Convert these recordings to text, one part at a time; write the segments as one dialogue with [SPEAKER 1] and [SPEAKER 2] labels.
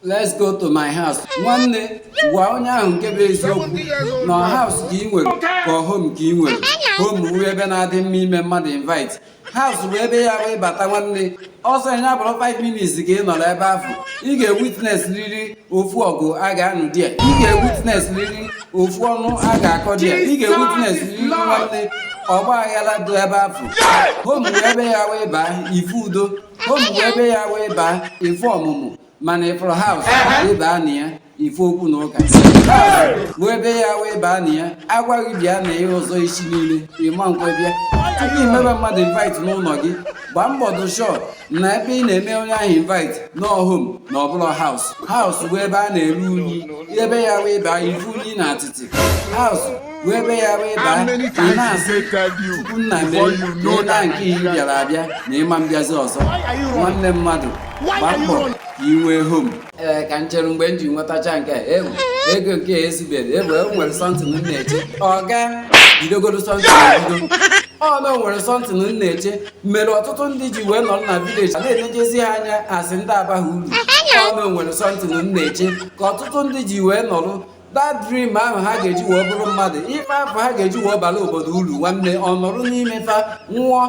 [SPEAKER 1] let's go to my house nwanne gwa onye ahụ nke bụ eziokwu na house ka ị nwere ka ọ home ka ị nwere home bụ ebe na-adị mma ime mmadụ invite house bụ ebe ya bụ ịbata nwanne ọsọ ya bụrụ 5 minutes ka ị nọrọ ebe afụ ị ga-ewitness riri ofu ọgụ a ga-anụ di ya ị ga-ewitness riri ofu ọnụ a ga-akọ di ya ị ga-ewitness riri nwanne ọgba aghara dị ebe afụ home bụ ebe ya bụ ịbaa ịfụ udo home bụ ebe ya bụ ịbaa ịfụ ọmụmụ mana ịfụrụ house ịbaa na ya ịfụ okwu na ụka House bụ ebe ya bụ ịbaa na ya a gwa gị bịa na ya ọzọ isi niile ịma nkwe bịa tupu imebe mmadụ invite n'ụnọ gị gbaa mbọ dụ sure na ebe ị na-eme onye ahụ invite na ọ home na ọbụrọ house house bụ ebe a na-eru unyi ebe ya bụ ịbaa ịfụ unyi na atịtị house bụ ebe ya bụ ịbaa ị na-asị Chukwu nna mee ihe na nke ị bịara abịa na ịma mbịazi ọzọ nwanne mmadụ gbaa mbọ ka ị nwee home ee ka m chere mgbe m ji nwetacha nnekwu ego nke a ezuberọ ezu o nwere something m na-eche ọga bidogoro something bido ọ na o nwere something m na-eche mere ọtụtụ ndị ji wee nọrọ na village na-elejezi ha anya as ndị abaghị uru ọ na o nwere something m na-eche ka ọtụtụ ndị ji wee nọrọ that dream ahụ ha ga-eji wee bụrụ mmadụ ife afụ ha ga-eji wee bala obodo uru nwanne ọ nọrọ n'ime fa nwụọ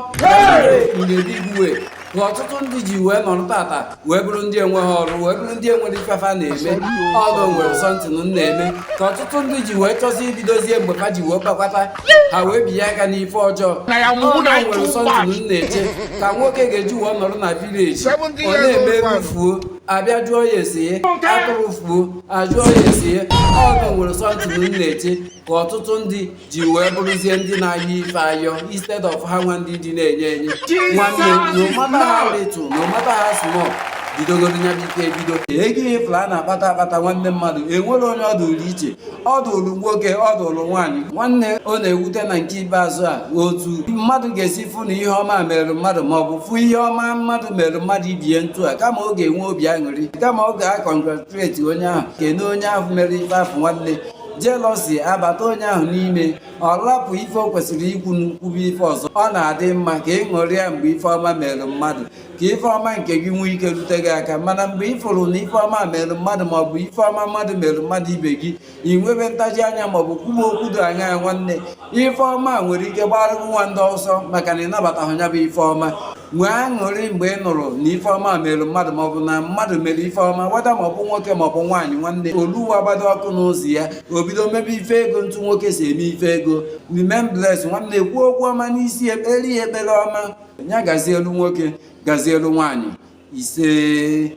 [SPEAKER 1] ngediwe ka ọtụtụ ndị ji wee nọrọ tata wee bụrụ ndị enweghị ọrụ wee bụrụ ndị enwerọ ife fa na-eme ọ na o nwere something m na-eme ka ọtụtụ ndị ji wee chọzi ibidozie mgbe fa ji wee kpakwata ha wee binye aka n'ife ọjọọ ọ na o nwere something m na-eche ka nwoke ga-eji wee nọrọ na village ọ na-eme ewu fuo abịa jụọ ya ese atụrụ fuo ajụọ ya ese ọ na o nwere something m na-eche ka ọtụtụ ndị ji wee bụrụzie ndị na-ayọ ife ayọ instead of ha nwa ndị dị na-enye enye nwanne no matter how little no matter how small bidogoro nya bụ ike ebido ego ịfụlụ a na-akpata akpata nwanne mmadụ enwerọ onye ọ dụrụ iche ọ dụrụ nwoke ọ dụrụ nwaanyị nwanne ọ na-ewute na nke ikpeazụ a otu mmadụ ga-esi fụ na ihe ọma mere mmadụ ma ọ bụ fụ ihe ọma mmadụ mere mmadụ ibe ya ntu a kama ọ ga-enwe obi aṅụrị kama ọ ga-akọ gratulate onye ahụ kene onye ahụ mere ife afụ nwanne jealousy abata onye ahụ n'ime ọ rapụ ife o kwesịrị ikwu o kwube ife ọzọ ọ na-adị mma ka ị ṅụrịa mgbe ife ọma mere mmadụ ka ife ọma nke gị nwee ike rute gị aka mana mgbe ị fụrụ na ife ọma mere mmadụ maọbụ ife ọma mmadụ mere mmadụ ibe gị ị nwebe ntaji anya maọbụ kwuwe okwu dị anya ya nwanne ife ọma nwere ike gbara gị nwanne ọsọ maka na ịnabataghị ya bụ ife ọma nwee aṅụrị mgbe ị nụrụ na ife ọma mere mmadụ maọbụ na mmadụ mere ife ọma whether maọbụ nwoke maọbụ nwaanyị nwanne oluwa gbado ọkụ n'ụzọ ya o bido mebe ife ego ntụ nwoke si eme ife ego remain blessed nwanne kwuo okwu ọma n'isi ekpere ya ekpere ọma ya gazielu nwoke gazielu nwaanyị ise